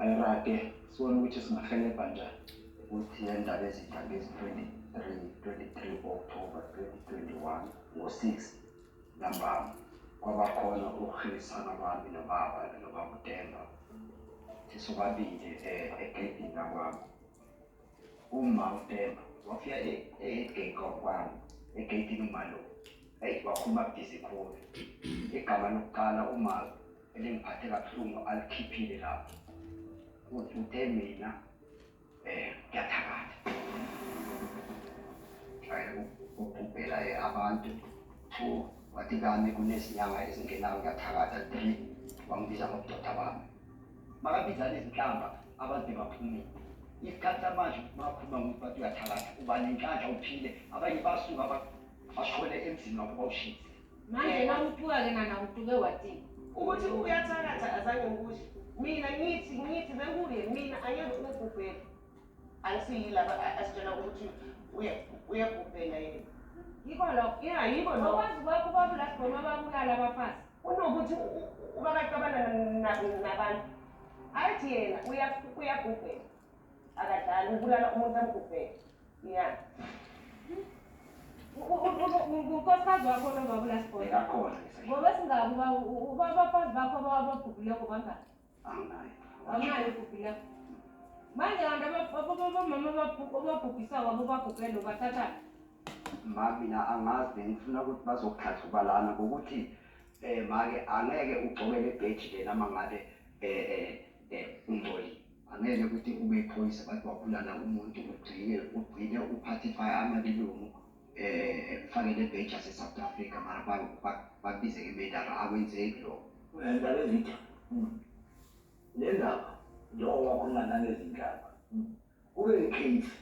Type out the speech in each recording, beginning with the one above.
Ayirage sibone ukuthi singahelebha njani. Ukuthi le ndaba ezintsha ngezi-23 23 October 2021 ngo-6 ntambama kwabakhona ukuhlisana kwami nobaba nobaba uDemba sisobabili eh, egedini lakwami uma uDemba wafika e- egate kwakwami egedini umalo eyi wakhuluma bhizi khulu igama lokuqala uma elingiphathe kabuhlungu alikhiphile lapho uthuthe mina um ngiyathakatha ubhubhela abantu two wathi kami kunezinyanga ezingenayo ngiyathakatha three wangibiza ngobudoda bami makabizana izinhlamba abantu baphumile isikhathi samanje bakhuluma ngokuthi bathi uyathakatha uba nenhlanhla uphile abanye basuka bashone emzini wakho bawushise Manje nawutuka ke nana utuke watini? Ukuthi uyathakatha azange ngikusho. Mina ngithi ngithi bekuye mina angeke ubhubhele. Angisiyilaba asitshela ukuthi uya uyabhubhela yena. Yiko lokho. Yeah, yiko lokho. Okwazi kwakho ubaba ulasigoma ababulala abafazi. Unokuthi ubakacabana nabantu. Athi yena uyabhubhela. Akadlali ubulala umuntu amgubhele. Yeah. Unkosikazi wakho lobabula sibona. Akakhona. Ngoba singaku ba ubabafazi bakho abababhubhile kubanga. Anginayo. Anginayo kubhubhile. Manje abantu abababomama ababhubhisa wabo babhubhele ubathatha. Ma mina angazi ngifuna ukuthi bazokuthatha ubalana ngokuthi eh make angeke ugcobele ebheji lena mangabe eh eh eh ungcolile. Angeke ukuthi ube iphoyisa bathi wabulala umuntu ugcine ugcine uphathe fire amalilungu eh kufanele bench yase South Africa mara bakubize ke medara akwenzeki lokho. Ngiyadala izitha. Hmm. Le ndaba njengoba wakhuluma nangezinhlaba. Hmm. Kube icase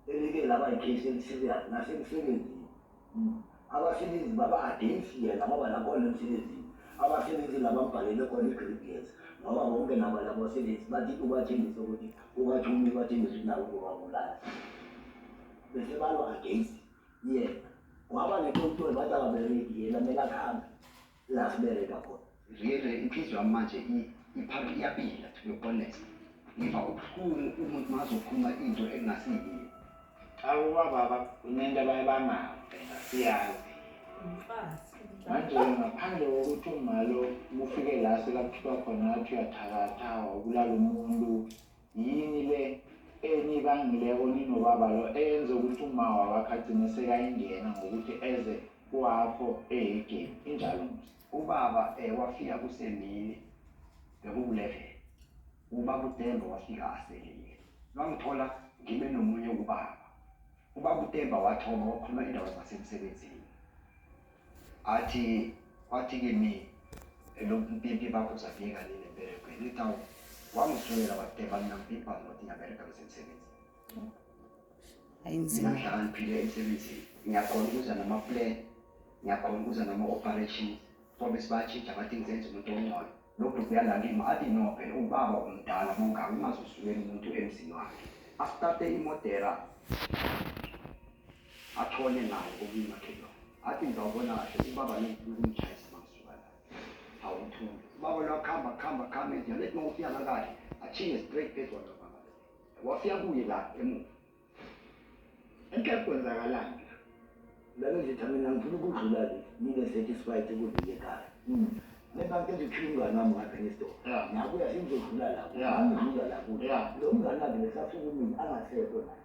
elike laba yikhesi elisiriyazi nasemsebenzini hmm. abasebenzi baba against yena ngoba nakhona emsebenzini abasebenzi labambhalele khona i-gradients ngoba bonke nabo labo sebenzi bathi ubathembise ukuthi ubathumi ubathembise ukuthi nabo kubabulala bese balwa against yena kwaba netontoni bathi akabereki yena kumele akuhambe la sibeke kakhulu really inhliziyo yami manje iphapha iyabila to be honest ngiva ubuhlungu umuntu mazokhuluma into engasiyiyo awu bababa kunento abaye bangabe siyazi manje ngaphandle kokuthi umalo mufike la sekakuthiwa khona athi uyathakatha wabulala umuntu Yini le enibangileko ninobaba lo eyenze ukuthi umawa wakhe agcine sekayingena ngokuthi eze kwakho ehegeni injalo musa ubaba eh, wafika kusemini bekukulevele ubaba utemba wafika aselile lwangithola ngibe nomunye ubaba ubaba utemba wathoma wakhuluma indaba zasemsebenzini Athi kwathi kimi elokhu mpimpi bakho zafika nini emberegweni lithi awu wangisulela wakuthemba mina mpimpa ngokuthi ngiyaberega besemsebenzi hayi nzima ngihlala ngiphile emsebenzini ngiyakhona ukuza nama-plan ngiyakhona ukuza nama-operations ngoba sibatshintsha bathi ngizenza umuntu ongcono lokhu kuyalalima athi no phela ubaba omdala mongaka ungazosulela umuntu emzini wakhe asitarte imodera Athole naye omunye umakhelwane. Athi ngizawubona kahle ubaba ngithi ukumtshayisa mangisuka la. Hawu mthunzi. Ubaba lo akhamba akhamba akhamba ethi nalethi uma ufika la kahle achinge straight phezu kwalo baba. Wafika kuye la emuva. Enhle kwenzakalani la? Lalo nje thami mina ngifuna ukudlula le. Ngibe satisfied ukudlula ekhaya. Nebake nje ukhiphe umngane wami ngapha ngesitolo. Yeah. Nakuya sengizodlula la. Yeah. Angidlula la kuye. Yeah. Lo mngane wakhe besasuka umini angasekho naye.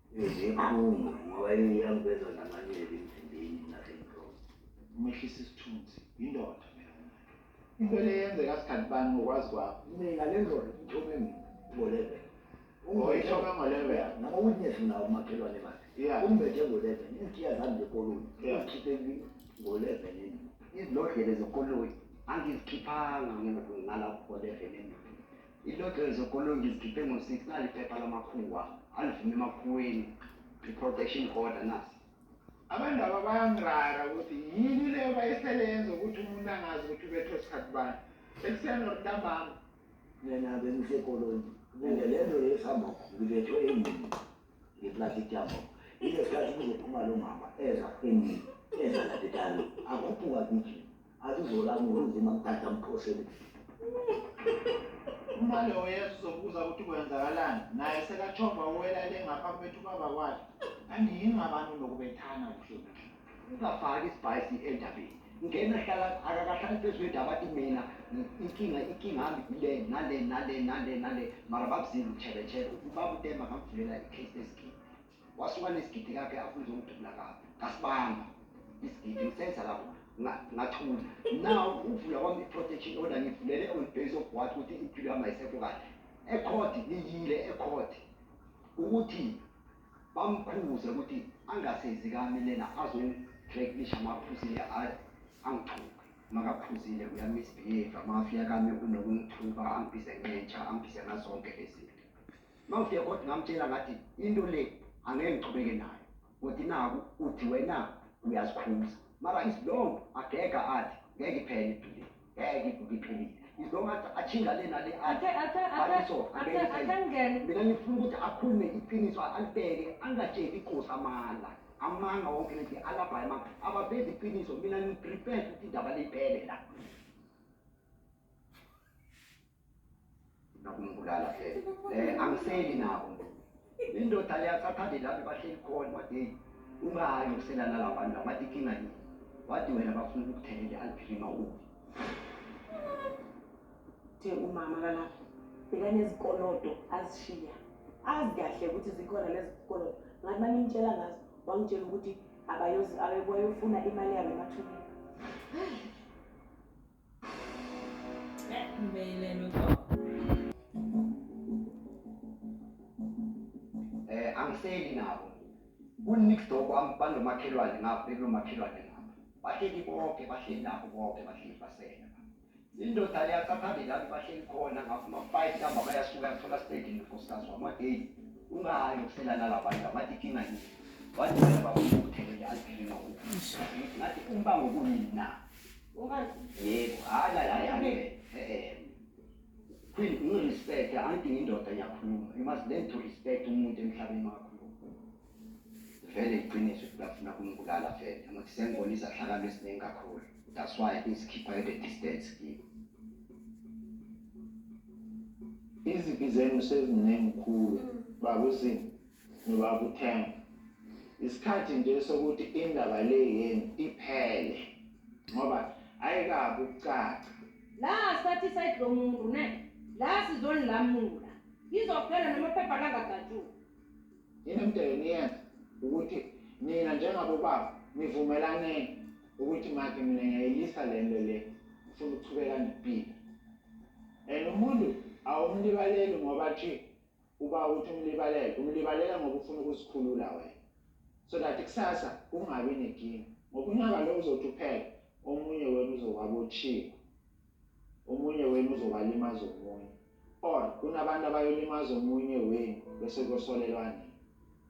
Izikhungo ngoba iyangibeza namanyeli emzimbeni nasenhloko. Umehlisa isithunzi indoda mina umuntu. Into le yenzeka sikhathi bani ngokwazi kwakho. Mina le ndoda ithome mina ngolebe. Ungayithoka ngolebe. Noma witness nawo umakhelwane bakhe. Yeah. Umbethe ngolebe. Izikiya zami zekoloni. Yeah. Ukhiphe ngolebe nini. Izilodlele zekoloni. Angizikhiphanga ngena ngala ngolebe nini. Ilotto yezokolongi izikhiphe ngo-6 nali iphepha lamakhuwa alivuma emakhuweni i-protection order nasi abandaba bayangirara ukuthi yini leyo bayisele yenza ukuthi umuntu angazi ukuthi ubethwe sikhathi bani ekuseni or ntambama yena-ke ngisekoloni and le nto yesihamba ngibethwe emini ngeplati tyabo ile sikhathi kuzophuma lo mama eza endini eza nadetalo akhuphuka kithi azizolami kunzima mthatha mphoseni uma lowo yesu uzobuza ukuthi kwenzakalani naye sekachomba uwela le ngaphambi kwethu ubaba kwakhe angiyingabani unokubethana kuhlonipha ungafaki isibhayisi endabeni ngena hlala akakahlali phezu kwendaba athi mina inkinga inkinga hami kule nale nale nale nale mara babuzile utshebetshebe ubaba utemba ngamvulela icase lesigidi wasuka nesigidi kakhe afuna uzongidubula kabi ngasibamba isigidi ngisenza lapho ngathula now ukuvula kwami i-protection order ngivulele on base of what ukuthi impilo yami ayisekho kahle ekhodi ngiyile ekhodi ukuthi Bamkhuze ukuthi angase zikami lena azongidreklisha uma aphuzile ayi angithuke. Uma kaphuzile uyamisbehave amafi akami unokungithuka angibize ngentsha angibize ngazonke lezinto. Uma ngifike kodwa ngamtshela ngathi into le angeke ngichubeke nayo kodwa naku uthi wena uyazikhuza mara isilongo agega athi ngeke iphele impilo. ngeke ivuke iqinile izongathi atshinga le nale Athe athe athe Bakiso, athe angeke athe isenze. ngene. mina ngifuna ukuthi akhulume iqiniso alibheke angatsheli iqosi amanga amanga wonke leti alabhayi amanga abavezi iqiniso mina ngiprepare ukuthi indaba liphele la nokumbulala vele eh angiseli nabo indoda leyathathande lapho bahleli khona wathi ungahayi ukuselana labantu abathi kinga yini wathi wena bafuna ukuthelele aliphilima ubi the umama kalapho bekanezikolodo azishiya azi kahle ukuthi zikhona lezi zikolodo ngathi manimtshela ngazo wangitshela ukuthi abayofuna imali yabo emathuneni Eh angiseli nabo. Kunix dog wami banomakhelwane ngapha bekunomakhelwane ngapha. Bahleli bonke bahleli lapho bonke bahleli basela. Indoda le yasaphambili lapho bahleli khona ngapha ama-five ntamba bayasuka yathola stedi nokosikazi wami wadeyi ungayo kuselana labantu abathi inkinga yini. Wathi baba uthele aliphelile ngokuthi ngathi umbango kuyini na? Queen, ungirespecte, angidingi indoda ngiyakhuluma. You must learn to respect umuntu emhlabeni wakho. vele iqiniso ukuthi bafuna kumibulala vele ngokuthi sengibona izahlakalo eziningi kakhulu that's why isikhipha at a distance kimi izibi zenu seziningi khulu babusini ngiwakuthenga isikhathi nje sokuthi indaba le yenu iphele ngoba ayikabi ukucaca la sathi side lo muntu ne la sizonilamula izophela noma phepha langadatshula yini mdele niyenza ukuthi nina njengabobaba nivumelaneni ukuthi make mina ngiyayilisa le nto le ngifuna ukuchubeka nempilo and umuntu awumlibaleli ngoba nje Uba uthi umlibalele umlibalela ngoba ufuna ukuzikhulula wena so that kusasa kungabi nekinga ngoba unqaba lo uzothi uphele omunye wena uzowabotshiwa omunye wenu uzobalimaza omunye or kunabantu abayolimaza omunye wenu bese kosolelwa nini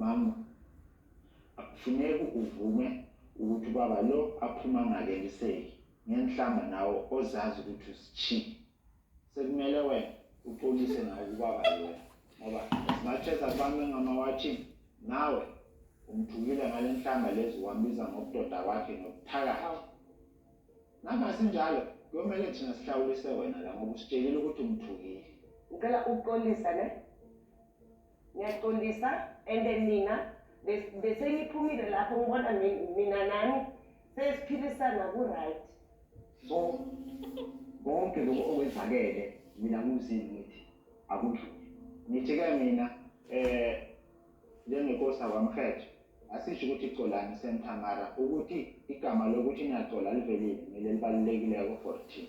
Mama, akufuneki uvume ukuthi ubaba lo aphuma angakeniseki. Ngenhlamba nawe ozazi ukuthi usitshiye. Sekumele wena uxolise nawe kubaba loya ngoba as much as akubambe ngamawatshini nawe umthukile ngale nhlamba lezi wambiza ngobudoda kwakhe nobuthakathi noma sinjalo kuyomele thina sihlawulise wena la ngoba usitshelile ukuthi umthukile ucela uxolisa ne ngiyaqondisa and then nina beseniphumile lapho ngibona mina nami sesiphilisana ku-right so konke lokhu okwenzakele mina ngumzini ngithi akudluli ngijike mina eh njengenkosi akwamhetshe asisho ukuthi colani sentamara ukuthi igama lokuthi niyacola livelile ngile libalulekileko for thina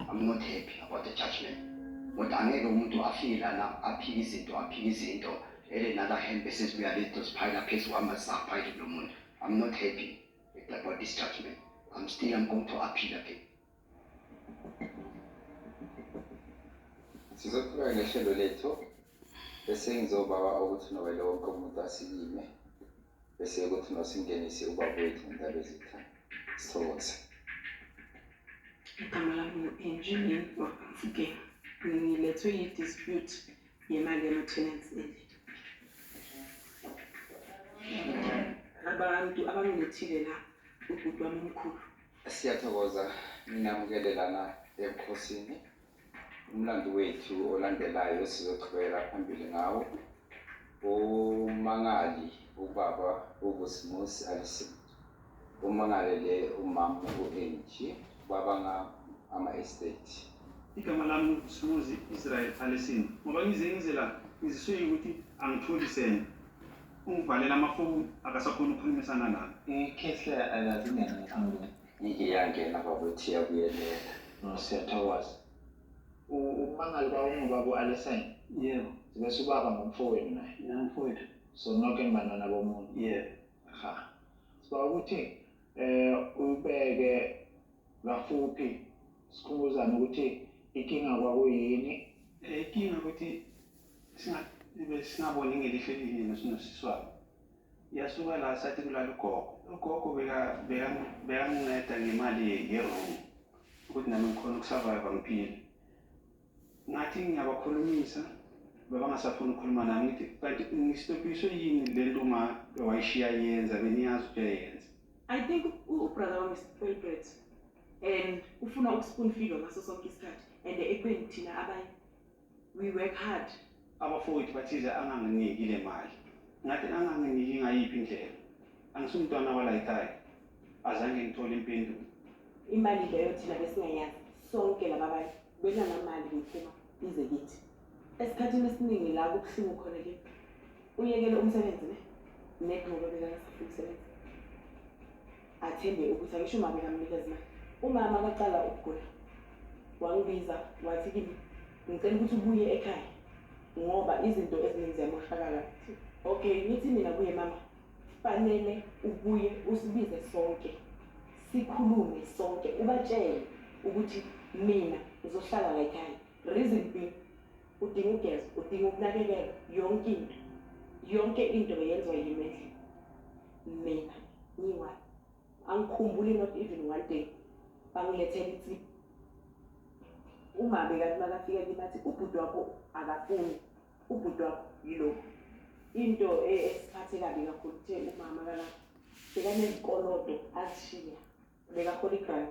I'm not happy about the judgment kodwa angeke umuntu afike lana aphike izinto aphike izinto ele nala hembe sezibuya leto ziphayela phezu kwami zisaphayile kulo muntu I'm not happy about this judgment I'm still I'm going to appeal again sizoqhubeka nehlelo lethu bese ngizobawa ukuthi nowele wonke umuntu asilime bese ukuthi nosingenise ubaba wethu ngindaba ezithana sithokoze igama lami ngu-engineer wakamfukeni ngilethwe yi-dispute yemali yama-tenants endlini abantu abangilethile la ubhuti wami omkhulu siyathokoza ninamukele lana ebukhosini Umlando wethu olandelayo sizoqhubekela phambili ngawo umangali ubaba ubusimusi alison umangalele umama u-angie baba ama-estate igama lami ubusimuzi israel alison ngoba ngize ngize la ngiziswe ukuthi angitholi sena ungivalela amafoni akasakhona ukukhulumisana nami ikhehle alazi ngani Ngike yangena bakwethu iyakuyelela. No siyathokoza. Umangali kwawungubaba u-Alesine? Yebo. Bese ubaba ngumfowenu naye? Namfowethu. So noke nibantwana bomuntu? Yebo. Ha. Siba ukuthi eh ubeke kafuphi sikhumbuzane ukuthi ikinga kwakuyini? Eh, ikinga ukuthi singa besingaboni ngelihle elinye noSiswabo. Yasuka la sathi kulala ugogo. Ugogo beka- beka- bekanginceda ngemali ye- yeroom ukuthi nami ngikhona ukusurvive ngiphile. Ngathi ngiyabakhulumisa bebangasafuni ukukhuluma nami ngithi kanti ngistobhiswe yini le nto uma wayishiya yenza beniyazi ukuthi uyayenza. I think u- ubrother wami spoilbrat and ufuna ukuspoon feedwa ngaso sonke isikhathi and ekubeni thina abanye We work hard. Abafowethu bathize anganginiki le mali. Ngathi anganginiki ngayiphi indlela. Angisumntwana walayikhaya. Azange ngithole impendulo. Imali leyo thina besingayazi. Sonke laba bantu benanamali ngiphuma ize kithi. Esikhathini esiningi la kubuhlungu khona ke. Uyekele umsebenzi ne? Nekho ngoba bekangafuni umsebenzi. athembe ukuthi angisho uma bengamnikeza imali umama akaqala ukugula wangibiza wathi kimi ngicela ukuthi ubuye ekhaya ngoba izinto eziningi ziyamoshakala okay ngithi mina kuye mama fanele ubuye usibize sonke sikhulume sonke ubatshele ukuthi mina ngizohlala la ekhaya reason being udinga ugeza udinga ukunakekelwa yonke into yonke into yenziwa yimi endlini mina ngiwa angikhumbuli not even one day bangilethela ithi umabe kanti makafika kimi athi ubhuti wakho akafuni ubhuti wakho yilo into e, esiphathe kabi kakhulu kuthe umama kana bekanezikolodo azishiya bekahola igrant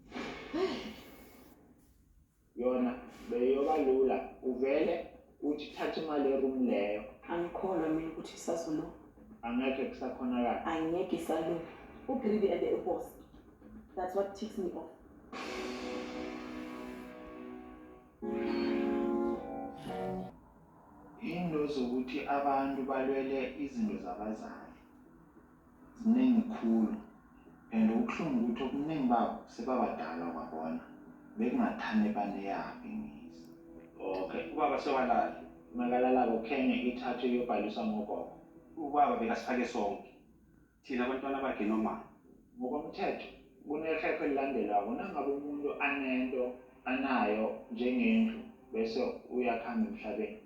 yona beyoba lula uvele uthi thatha imali eroom leyo angikholwa mina ukuthi isazolunga angekhe kusakhonakala angeke isalunga ugridi and ebos that's what ticks me off into zokuthi abantu balwele izinto zabazali Ziningi khulu and okubuhlungu ukuthi okuningi babo sebabadala kwabona bekungathane baneyaphi imizi. Okay ubaba sewalala. Makalalako khenge ithathwe iyobhaliswa ngogogo. Ubaba bekasifake sonke thina bantwana bakhe noma? Ngokomthetho kunekhekhe elilandelwako nangabe umuntu anento anayo njengendlu bese uyakhamba emhlabeni.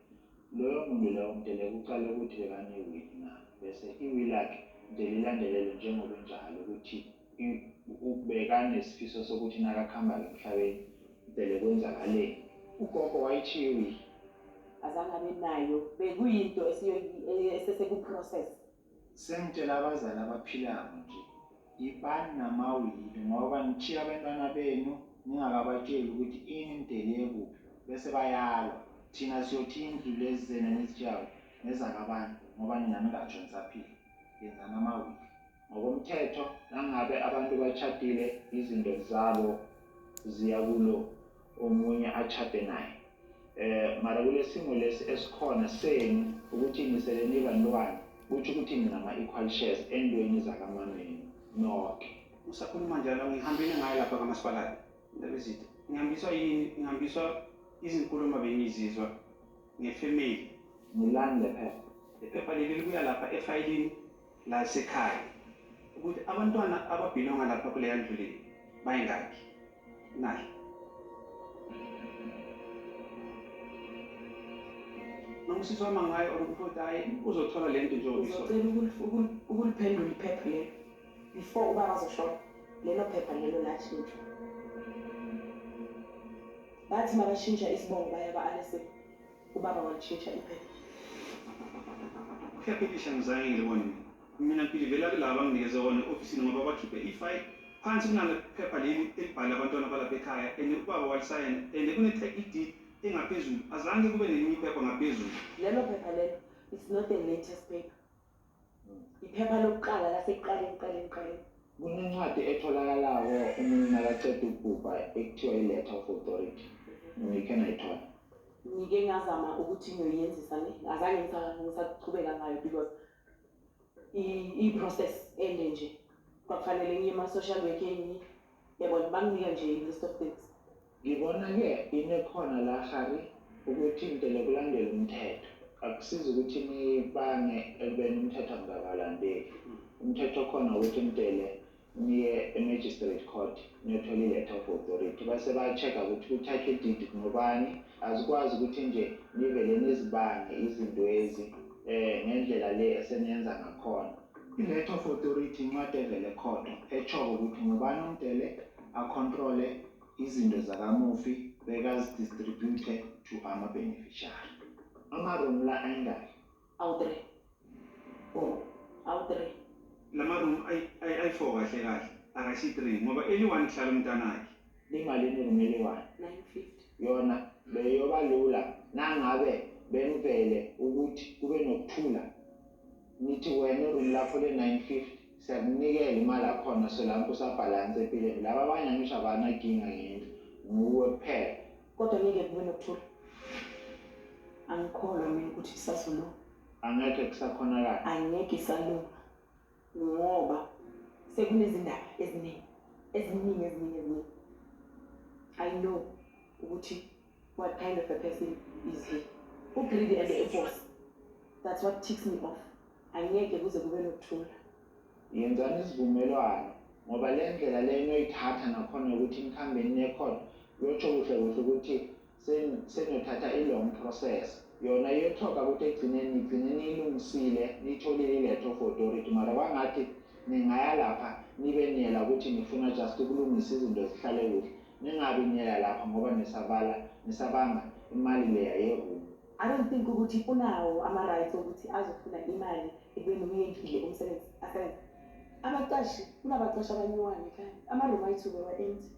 Loyo muntu lowo kudeleka uqale ukuthi bekane-will na, bese i-will lakhe kudeleka ilandelelwe njengoba injalo ukuthi bekanesifiso sokuthi nakakuhamba-ke emhlabeni kudeleka kwenzakaleni. Ugogo wayithiya i-will. Azange abe nayo, bekuyinto esesekuprocess. Sengitshela abazali abaphilako nje, ibani namawili ngoba nitjhiya abentwana benu ningakabatjeli ukuthi ini nidele kuphi bese bayalwa. Thina siyothi indlu lezi zenu enizitjhiyako ngezakabani ngoba nina ningatjho nisaphila. Yenzani amawili. Ngokomthetho nangabe abantu batjhadile izinto zabo ziya kulo. omunye atshade naye eh mara kulesimo lesi esikhona senu ukuthi niseleni ibantwana kuthi ukuthi ninama equal shares endweni zakamameni nonke usakhuluma njalo ngihambile ngayo lapha kamasipalati ndabezitha ngihambiswa yini ngihambiswa izinkulumo bengizizwa ngefamily ngilande phela iphepha leli libuya lapha efayilini lasekhaya ukuthi abantwana ababhilonga lapha kuleya ndlu le bayingakhi nayo nomsisi wama ngayo or ukuthi othi hayi uzothola le nto njengobisocela ukuliphendula iphepha lelo before uba bazoshona lelo phepha lelo lashintshwa bathi mabashintsha isibongo baya ba-alesebe Ubaba walishintsha iphepha. Uyaphikisha ngizayile wena. Mina ngidilivela kulaba abanginikeze wona e-ofisini ngoba bakhiphe ifayili phansi kunale phepha leli elibhala abantwana balapha ekhaya and ubaba walisayina and kune-title deed engaphezulu. Azange kube nelinye iphepha ngaphezulu. Lelo phepha lelo it's not the latest paper. iphepha lokuqala lasekuqaleni kuqaleni kuqaleni kunencwadi etholakalayo umuntu nakaceda ukubhubha ekuthiwa i-letter of authority ngikhe nayithola ngike ngazama ukuthi ngiyoyenzisa ne azange ngisaqhubeka ngayo because i-process ende nje kwakufanele ngiye ema-social workeni yabona bamnika nje i-list of things Ngibona-ke into ekhona la Harry ukuthi ngicela kulandela umthetho. Akusizi ukuthi nibange ekubeni umthetho angikabalandeli. Umthetho okhona ukuthi ngicele niye e-magistrate court niyothola i-letter of authority. Base ba-check-a ukuthi kuthathwe ididi kunobani. Azikwazi ukuthi nje nivele nizibange izintwezi um ngendlela le eseniyenza ngakhona. I-Head of Authority incwadi evela ekhotho etshoko ukuthi ngubani omdele akhontrole izinto zakamufi bekazidistribute to amabeneficiary. Ama-room la ayingaki? Awu-three. Four. Awu-three. Lama-room ayi-four kahle kahle akashi three ngoba eli-one kuhlala umntanakhe. Limalini i-room eli-one? Nine fifty. Yona beyoba lula nangabe bengivele ukuthi kube nokuthula Ngithi wena iroom lakho le 950 siyakunikela imali akhona solanke usa balance empilweni laba abanye angisho abana ginga ngendlu nguwe kuphela. Kodwa ngeke kube nokuthula. Angikholwa mina ukuthi isazolunga. Angeke kusakhonakala. Angeke isalunga ngoba sekunezindaba eziningi eziningi eziningi eziningi. I know ukuthi What kind of a person is he? U greedy and a boss. That's what ticks me off. Angeke kuze kube nokuthula. Yenzani isivumelwano ngoba le ndlela le inoyithatha nakhona ukuthi nikhambeni nekhona yosho kuhle kuhle ukuthi senothatha i-long process yona iyothoka ukuthi egcineni nigcine niyilungisile niyitholile iletho for authority mara kwangathi ningaya lapha nibe niyela ukuthi nifuna just ukulungisa izinto zihlale kuhle Ningabi niya lapha ngoba nisabala nisabanga imali leya yeroom. I don't think ukuthi unawo ama rights okuthi azofuna imali ekubeni umyekile umsebenzi asenza. Abaqashi kunabaqashi abanyiwayo ekhaya. Ama room ayithuke wa empty.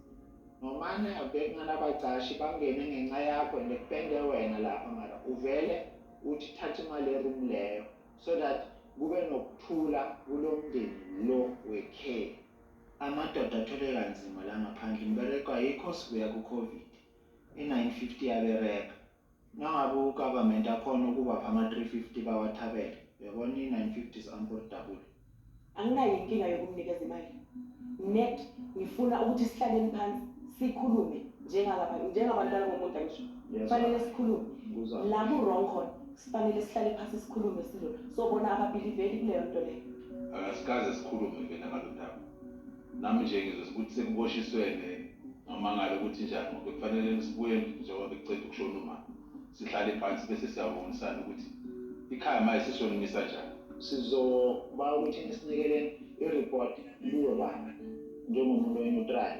Nomane abhekna nabaqashi bangene ngenxa yakho and kupende wena lapha mara uvele uthi thatha imali ye room leyo so that kube nokuthula kulomndeni lo wekheli. Amadoda athwele kanzima la ngaphandle imibereko ayikho sibuya ku covid i 950 yabereka nangabe u government akhona ukubapha ama 350 bawathabele uyabona i 950 is unportable. Anginayo inkinga yokumnikeza imali net ngifuna ukuthi sihlaleni phansi sikhulume njengalaba njengabantu balomumuntu angisho kufanele sikhulume la ku wrong khona. Sifanele sihlale phansi sikhulume sizo sobona ababiliveli kuleyo nto leyo. Akasikaze sikhulume ke nangalo daba. Nami nje ngizwe ukuthi sekuboshiswene ngamangala ukuthi njani ngoba bekufanele nisibuye endlini njengoba bekuceda ukushona umama. Sihlale phansi bese siyabonisana ukuthi ikhaya maye sisonimisa njani. Sizoba ukuthi nisinikele ireport kuwe baba njengomuntu oneutral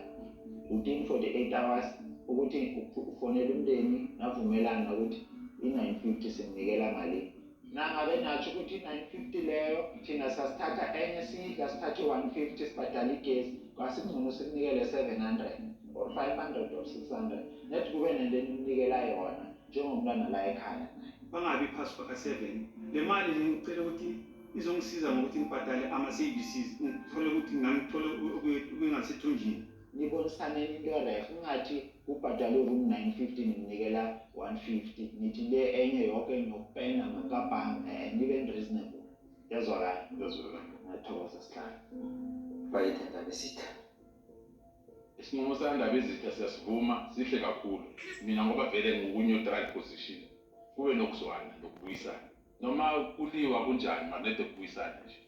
within 48 hours ukuthi ufonele umndeni navumelana ukuthi i-950 simnikela malini nangabe natsho ukuthi i-950 leyo thina sasithatha enye siyidla sithathe 150 sibhadala igesi kwasingcono sikunikele 700 or 500 or 600 net kube nento enimnikela yona njengomntwana la ekhaya naye bangabi phasi kwaka-7 le mali le ngicela ukuthi izongisiza ngokuthi ngibhadale ama-services ngithole ukuthi ngangithole okungasethunjini nibonisaneni into ereh ungathi kubhadalwe ku-950 nginikela 150 nithi le enye yoke ngiyokupenda ngakabhanga um eh, nibe reasonable yazwakala yazwakala ngathokoza sihlala bayithe ndaba isitha isinqumo sandaba izitha siyasivuma sihle kakhulu mina ngoba vele ngiku-neutral position kube nokuzwana nokubuyisana noma kuliwa kunjani manede kubuyisana nje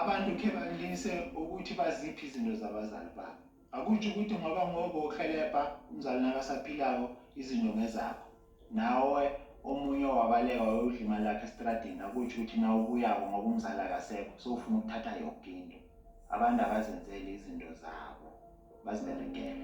Abantu khe balingise ukuthi baziphi izinto zabazali babo. Akutsho ukuthi ngoba ngobo uhelebha umzali nakasaphilako izinto ngezakho. Nawe omunye owabaleka wayodla imali lakhe estradini akutsho ukuthi nawe ubuyako ngoba umzali akasekho sowufuna ukuthatha yoke into. Abantu abazenzeli izinto zabo baziberegele.